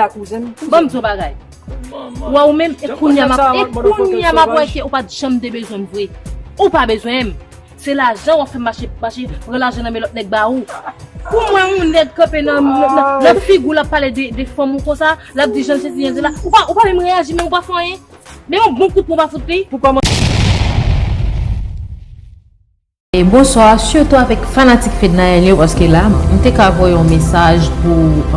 la kouzen m. Bon m di w yon bagay. Ou wè ou menm e kounye a m ap e kounye a m ap wè ke ou pa t janm te bezwen m vre. Ou pa bezwen m. Se lajan w ap fè m mache mache pran lajan nan men lòt nèg ba ou. Pou mwen yon nèg kanpe nan nan figi w l ap pale de fanm ou konsa, l ap di jan l sesi jan l sela, ou pa ou pa menm reyaji menm ou pa fè anyen. Men yon bon kout pwen w pa fout li. Pou kòman. Bonsoir surtout avèk fanatik fednaelle yo paske la m te ka voye yon mesaj pou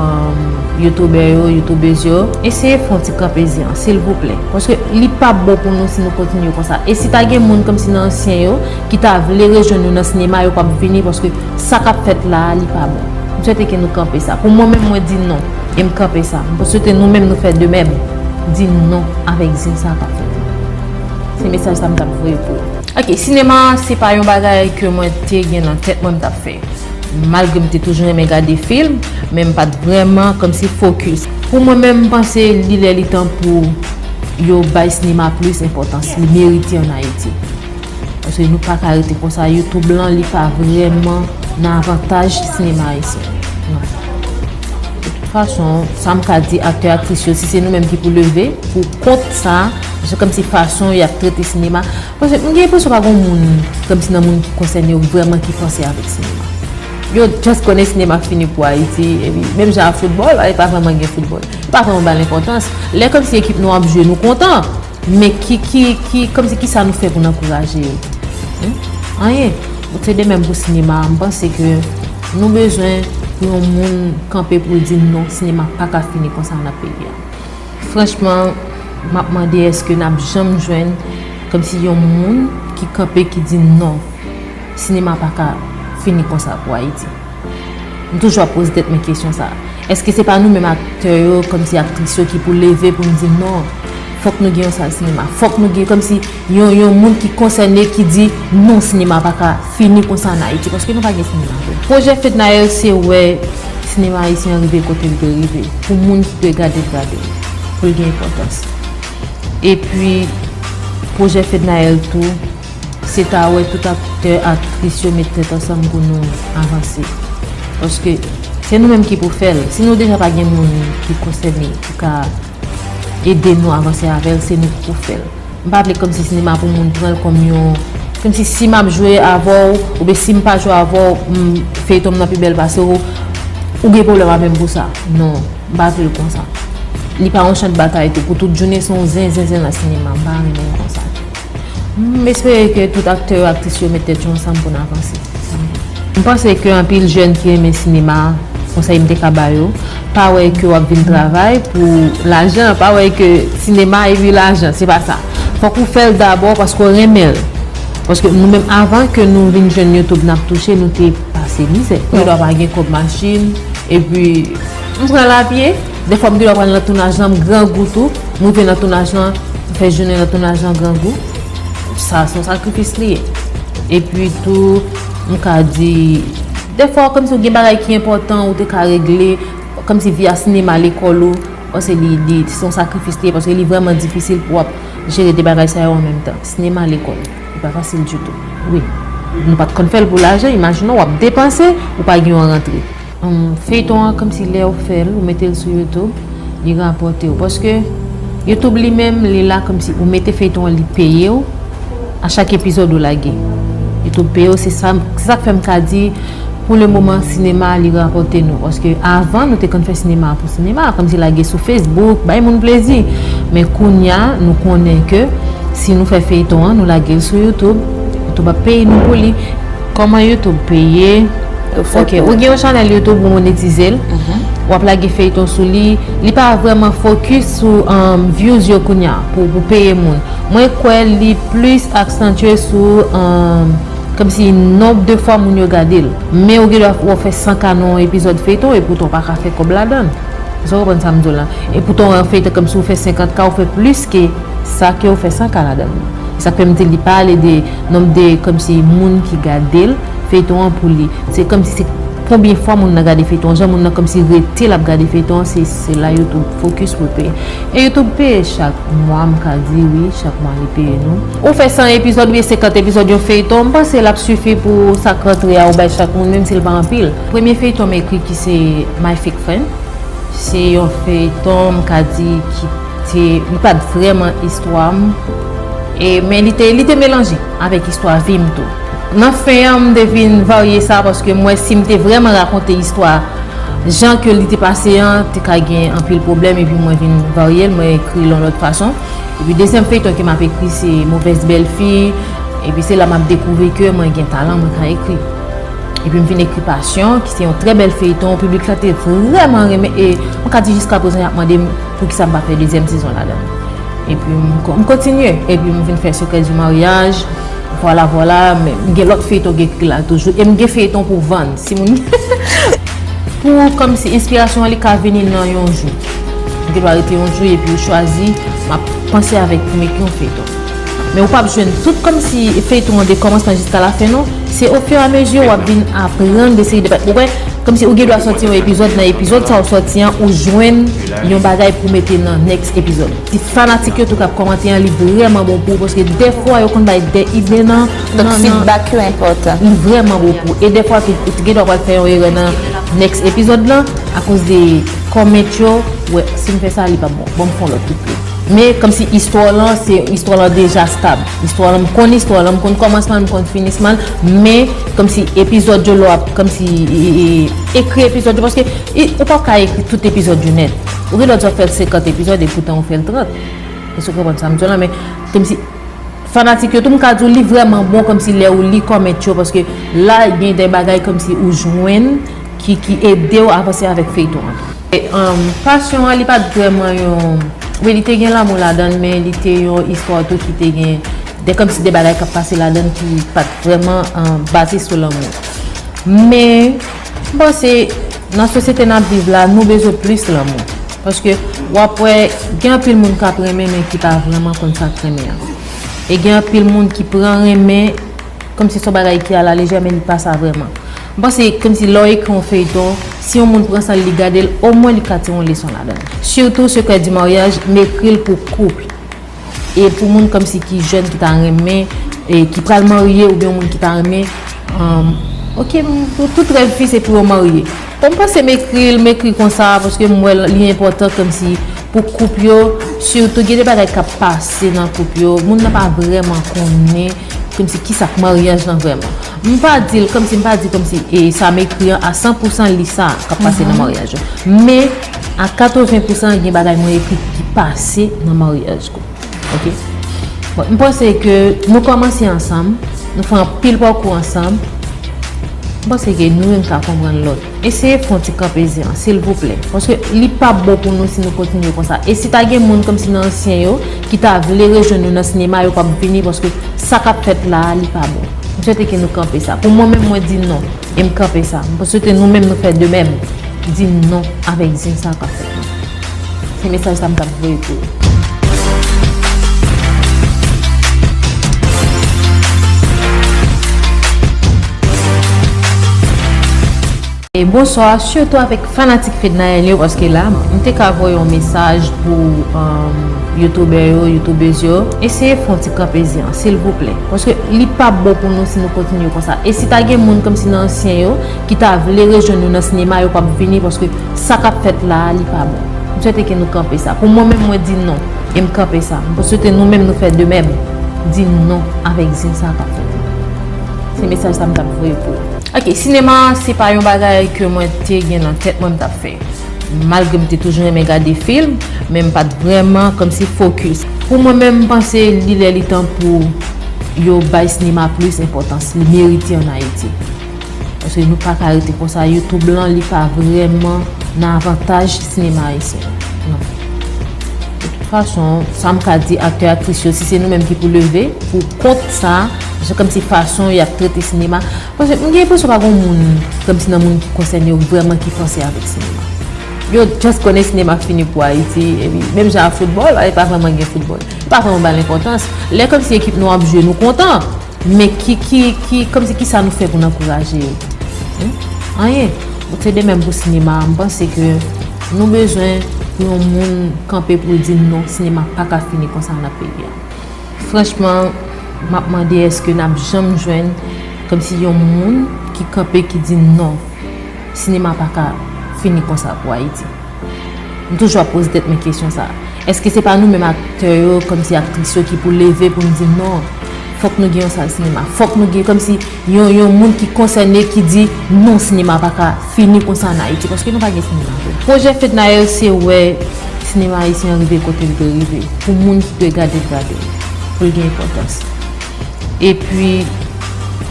youtuber yo youtubeuse yo eseye fè yon ti kanpe zen an silvouplè paske li pap bon pou nou si nou kontinye konsa e si ta gen moun komsi nan ansyen yo ki ta vle rejwenn nou nan sinema yo pap vini paske sa kap fèt la a li pa bon m swete ke nou kanpe sa pou mwen menm mwen di non e m kanpe sa m swete nou menm nou fè de mèm di non avèk zen sa kap fèt la se mesaj sa m tap voye pou. Ok, sinema se pa yon bagay ke mwen te gen nan tèt mwen m tap fè. Malgre m te toujou renmen gade film, men m pat vrèman kòmsi fokis. Pou mwen menm m panse li lè li tan pou yo bay sinema plis enpòtans li merite an Ayiti. Paske nou paka rete konsa, YouTube lan li pa vrèman nan avantaj sinema ayisyen. Non. De tout fason, sa m ka di aktè aktris yo si se nou menm ki pou leve pou kont sa, Se kòmsi fason y ap trete sinema, paske m gen enpresyon pa gen yon moun, kòmsi nan moun ki konsène yo vrèman ki panse avèk sinema. Yo just konnen sinema fini pou Ayiti, epi menm jan ak foutbòl, Ayiti pa vrèman gen foutbòl. Yo pa vrèman ba l enpòtans. Lè kòmsi ekip nou ap jwe, nou kontan, men ki, ki, ki, kòmsi ki sa nou fè pou n ankouraje yo? Humm? Anyen. Donk se de menm pou sinema a. M panse ke nou bezwen pou yon moun kanpe pou l di non, sinema pa ka fini konsa nan peyi a. Franchman map mande eske nap janm jwenn komsi yon moun ki kanpe ki di non sinema paka fini konsa pou ayiti m toujou ap poze tèt mwen kesyon sa eske se pa nou menm aktè yo komsi aktris yo ki pou leve poun di non fok nou gen yon sal sinema fok nou gen komsi Yon yon moun ki konsène ki di non sinema pa ka fini konsa an Ayiti paske nou pa gen sinema vre. Pwojè Fednaelle se wè sinema ayisyen an rive kote l dwe rive pou moun ki dwe gade l gade l, pou l gen enpòtans. Epi pwojè Fednaelle tou se ta wè tout aktè, aktris yo met tèt ansanm pou nou avanse. Paske se nou menm ki pou fè l. Si nou deja pa gen moun ki konsène pou ka. Ede nou avanse avèl se nou ki pou fèl. M pa vle kòmsi sinema pou moun pranl kòm yon kòmsi si map jwe avèw oubyen sim pa jwe avèw feyton m nan pi bèl pase w ou gen pwoblèm avèm pou sa non m pa vlel konsa. Li pa yon chan de batay tou pou tout jounen se yon zen zen zen nan sinema m pa renmenl konsa. M espere ke tout aktè yo aktris yo met tèt yo ansanm pou n avanse. M panse ke anpil jèn ki renmen sinema, konsèy m te ka ba yo, pa wè ke w ap vin travay pou lajan, pa wè ke sinema epi lajan, se pa sa. Fòk ou fè l dabò paske w renmen l. Paske nou menm avan ke nou vin jwenn YouTube n ap touche, nou te pase mizè. Gen dwa pa gen kòb machin, epi m pran l a pye. Defwa m genlè pral nan tounaj lan m grangou tou, m rive nan tounaj lan, m fè jounen nan tounaj lan grangou, sa son sakrifis li ye. Epi tou m ka di defwa kòmsi ou gen bagay ki enpòtan ou te ka regle, kòmsi vi a sinema lekòl ou, pase li li se yon sakrifis li ye paske li vrèman difisil pou w ap jere 2 bagay sa yo an menm tan. Sinema, lekòl, li pa fasil ditou. Wi. Nou pa t konn fè l pou lajan, imajine w ap depanse, ou pa gen yon rantre. Feyton an komsi lèw fèl ou metel sou YouTube li rapòtew paske YouTube li menm li la komsi ou mete feyton an li peyew a chak epizòd ou lage YouTube peyew se sak fèm ka di pou le moman sinema li rapòte nou paske avan nou te konn fè sinema pou sinema komsi lage sou Facebook bay moun plezi men kounya nou konnen ke si nou fè feyton an nou lagel sou YouTube YouTube ap peye nou pou li. Koman YouTube peye Ok ou gen yon chanel YouTube ou monetizel wap lage feyton sou li li pa vreman focus sou views yo kounya pou ou peye moun mwen kwe li plis aksantye sou komsi nomb de fwa moun yo gadel men ou gen dwa wap fe 100 ka nan yon epizod feyton e poutan ou paka fe kob ladann eske ou konprann sam diw la e poutan yon feyton komsi ou fe 50 ka ou fe plis ke Sa kew fè sa Canada wi. E sak fèm di li pa ale de nomb de komsi moun ki gadel feyton an pou li se komsi se konbyen fwa moun nan gade feyton an jan moun nan komsi rete lap gade feyton an se se la youtube focus pou l peye e youtube peye chak mwa m ka di wi chak mwa li peye nou. Ou fè 100 epizòd oubyen 50 epizòd yon feyton m panse lap sifi pou sak rantre a ou bay chak moun menm si l pa anpil. Premye feyton m ekri ki se my fake friend se yon feyton m ka di ki. Se li pat vrèman istwa m e men li te li te melanje avèk istwa vi m tou. Nan fen an m te vin varye sa paske m wè si m te vrèman rakonte istwa jan ke li te pase an te ka gen anpil pwoblèm epi mwen vin varye l mwen ekri l yon lòt fason. Epi dezyèm feyton ke m ap ekri se movèz bèl fi epi se la m ap dekouvri ke mwen gen talan mwen ka ekri. Epi m vin ekri pasyon ki se yon trè bèl feyton piblik la te vrèman renmen e mwen ka di jiska prezan y ap mande m Poukisa m pa fè dezyèm sezon ladan l? Epi m kontinye, epi m vin fè Secret du mariage, vwala vwala, men m gen lòt feyton k ekri la toujou, e m gen feyton pou vann si moun pou kòmsi enspirasyon an li ka vini nan yon jou. M gen dwa rete yon jou epi yo chwazi m ap panse avèk pou m ekri yon feyton. Men ou pap jwenn tout kòmsi feyton an de kòmansman jiska la fen non se o fur a mesure wap vin aprann de seri de bagay ou wè kòmsi ou gen dwa sòti yon epizòd nan epizòd sa ou sòti an ou jwenn yon bagay pou mete nan next epizòd ti fanatik yo tou kap kòmante an li vrèman bon pou ou paske dèfwa yo konn bay de ide nan nan feedback yo enpòtan li vrèman bon pou ou e dèfwa tou ou t gen dwa pral fè yon erè nan next epizòd lan akoz de comment yo wè sim fè sa li pap bon banm fon lòt tou plis. Men komsi istwa w lan se istwa w lan deja stab. Istwa w lan m konn istwa w lan, m konn kòmansman l, m konn finisman l, men komsi epizòd yo lè w ap komsi ekri epizòd yo paske ou pap ka ekri tout epizòd yo nèt. Ou gen lè w di w ap fè 50 epizòd e poutan ou fè l 30. Èske ou konprann sa m di w lan men komsi fanatik yo tou m ka di w li vrèman bon komsi lè ou li kòment yo paske la gen de bagay komsi ou jwenn ki ede w avanse avèk feyton an. Passion an li pat vrèman yon, wi li te gen lanmou ladann men li te yon istwa tou ki te gen de kòmsi de bagay kap pase ladann ki pat vrèman baze sou lanmou. Men m panse nan sosyete nap viv la nou bezwen plis lanmou paske wap wè gen anpil moun kap renmen men ki pa vrèman konn sak renmen an e gen anpil moun ki pran renmen Kòmsi son bagay ki ala lejè men li pa sa vrèman. M panse kòmsi lè w ekri yon feyton, si yon moun pran san l li gade l, omwen li ka tire yon leson ladan l. Sitou Secret du Mariage m ekri l pou couple e pou moun kòmsi ki jèn ki ta renmen e ki pral marye oubyen yon moun ki ta renmen ok tout rèv fi se pou yo marye. Bon m panse m ekri l m ekri konsa paske m wè li enpòtan kòmsi pou couple yo sitou gen de bagay k ap pase nan couple yo moun nan pa vrèman konnen. Kòmsi kisa k maryaj lan vrèman? M pa di l kòmsi, m pa di kòmsi e sa m ekri an a san pou san li sa k ap pase nan maryaj yo. Men, a katreven pou san gen bagay mwen ekri ki pase nan maryaj kou. Ok. Bon, m panse ke nou kòmanse ansanm, nou fè anpil pakou ansanm, m panse ke nou youn ka konprann lòt. Eseye pran ti kanpezi an silvouplè paske li pap bon pou nou si nou kontinye konsa e si ta gen moun kòmsi nan ansyen yo ki ta vle rejwenn nou nan sinema yo pap vini paske sa kap fèt la a li pa bon m swete ke nou kanpe sa pou mwen menm mwen di non e m kanpe sa m swete nou menm nou fè de mèm di non avèk zen sa kap fèt la. Se mesaj sa m tap voye pou ou. Bonswa, sitou avèk fanatik Fednaelle yo paske la m te ka voye yon mesaj pou youtubè yo, youtubèz yo. Eseye fè yon ti kanpezi an silvouplè paske li pap bon pou nou si nou kontinye konsa. E si ta gen moun kòmsi nan ansyen yo. ki ta vle rejwenn nou nan sinema yo pap vini paske sa kap fèt la a li pa bon m swete ke nou kanpe sa pou mwen menm mwen di non e m kanpe sa m swete nou menm nou fè de mèm di non avèk zin sa kap fèt la se mesaj sa m tap voye pou ok sinema se pa yon bagay ke mwen te gen nan tèt mwen m tap fè malgre m te toujou renmen gade film men m pat vrèman kòmsi fokis pou mwen menm m panse li lè li tan pou yo bay sinema plis enpòtans li merite an ayiti. Paske nou paka rete konsa YouTube lan li pa vreman nan avantaj sinema ayisyen nan. De tout fason, sa m ka di aktè aktris yo si se nou menm ki pou leve pou kont sa, se kòmsi fason y ap trete sinema, paske m gen enpresyon pa gon moun kòmsi nan moun ki konsène yo vreman ki fòse avèk sinema. Yo just konnen sinema fini pou Ayiti epi menm jan ak foutbòl, Ayiti pa vreman gen foutbòl. Yo pa vreman ba l enpòtans. Lè kòmsi ekip nou ap jwe nou kontan. Men ki, ki, ki, kòmsi ki sa nou fè pou n ankouraje yo? Hum? Anyen. Ou te de menm pou sinema a, m panse ke nou bezwen pou yon moun kanpe pou l di non, sinema pa ka fini konsa nan peyi a. Franchman, m ap mande èske n ap janm jwenn kòmsi yon moun ki kanpe ki di non, sinema pa ka fini konsa pou Ayiti. M toujou ap poze tèt mwen kesyon sa. Eske se pa nou menm aktè yo, kòmsi aktris yo ki pou leve pou n di non, fòk nou gen yon sal sinema. Fòk nou gen kòmsi yon moun ki konsène ki di non sinema pa ka fini konsa an Ayiti. Paske nou pa gen sinema vre. Pwojè Fednaelle se wè sinema ayisyen an rive kote l dwe rive. Pou moun ki dwe gade l gade l. Pou l gen enpòtans. Epi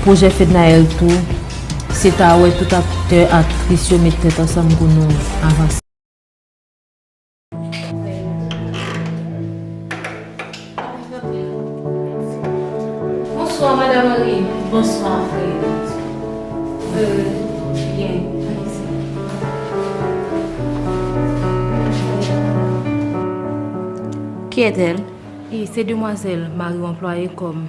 pwojè Fednaelle tou. Se ta wè tout aktè aktris yo met tèt ansanm pou nou avanse. Bonswa madam Henry. Bonswa fredi. Ki est elle? Se demwazel mari w anplwaye kom.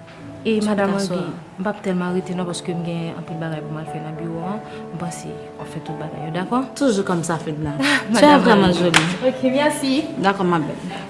E madam Angy, m pap tèlman rete non paske m gen anpil bagay pou m al fè nan biwo an, m panse w ap fè tout bagay yo, dakò? Toujou kòm sa Fedna. Tu es vraiment jolie. Ok, merci. Dakò ma belle.